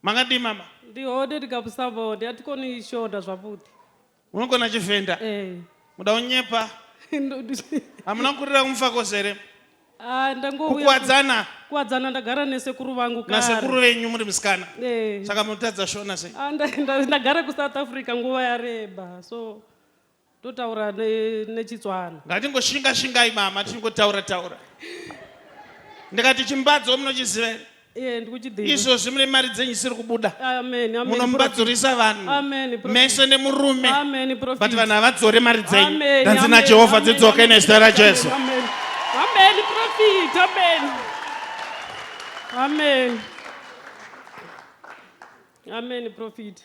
Makadii mama? Ndihode ndikapusabawo ndiatikoni ishonda zvaputi. Unogona chivenda? Eh. Muda unyepa? Hamuna kurira kumufakos here? Ah, kukwadzana kukwadzana ndagara nesekuru vangu kare nasekuru venyu muri musikana eh. saka munotadza shona sei ah, ndagara kusouth africa nguva yareba so Totaura nechitswana. Ngatingoshinga shingai mama tichingotaura taura. Ndikati chimbadzo munochiziva here? Eh, izvozvi mune mari dzenyu isiri kubuda munombadzorisa vanhu mese nemurume but vanhu havadzore mari dzenyu danzi najehovha dzidzoke nezita rajesu amen Amen prophet.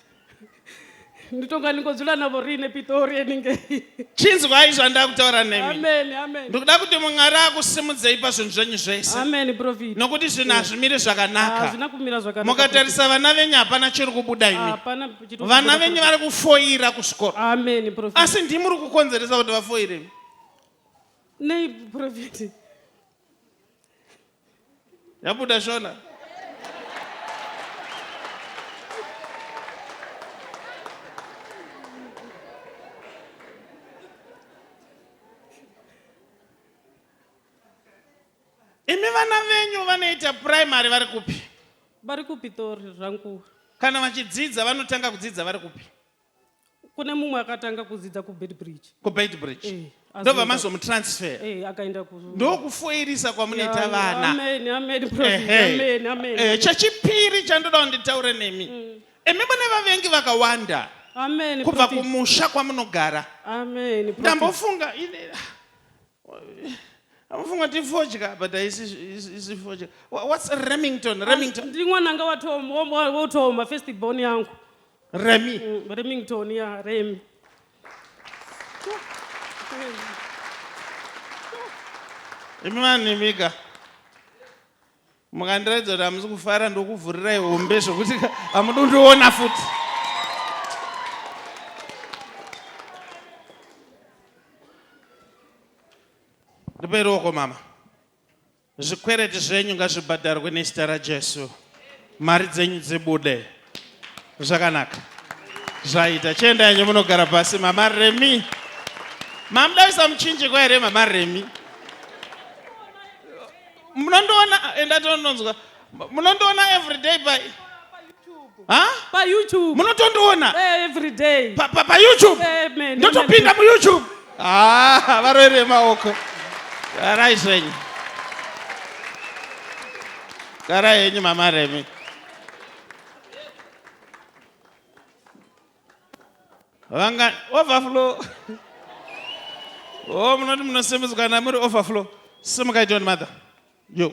Nditonga ndingodzula navo riine pitori yeninge. chinzwai zvandaa kutaura nemi Amen amen. ndikuda kuti mwari akusimudzei pazvinhu zvenyu zvese Amen prophet. nokuti zvinhu hazvimiri zvakanaka Hazvina kumira zvakanaka. mukatarisa vana venyu hapana chiri kubuda prophet. imi Hapana chito- vana venyu vari kufoira kuzvikoro Amen prophet. asi ndimi muri kukonzeresa kuti vafoire Nei prophet. Yabuda shona. Imi vana venyu vanoita primary vari kupi? Vari kuPitori Rankuwa. Kana vachidzidza vanotanga kudzidza vari kupi? kune mumwe akatanga kudzidza kubeitbridge kubeitbridge eh, ndobva mazomutransfer eh, akaenda ndokufoirisa kwamunoita vanaehe chechipiri chandoda kunditaure nemi mm. imi mune vavengi vakawanda kubva kumusha kwamunogara ndambofunga amufunga tifodya but isifodya whats remington remington ndiri mwananga watooma first born yangu remi mm, remington ya remi imi vanhu imika mukandiratidza kuti hamusi kufara ndokuvhurirai hombe zvokuti hamudi kundiona futi ndipe ruoko mama Zvikwereti zvenyu ngazvibhadharwe nezita raJesu. Mari dzenyu dzibude. Zvakanaka. Zvaita. Chienda yenyu munogara pasi mama Remi. Mamdavisa muchinjikwa here mama Remi? Munondoona enda tononzwa. munondiona everyday pa payoutube munotondiona eh, everyday payoutube eh, ndotopinda muyoutube ah, varoeri vemaoko garai zvenyu garai henyu mama remi vanga overflow o oh, munoti munosimudzwa kana muri overflow simukai john mother yo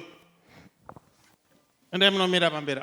endai munomira pamberi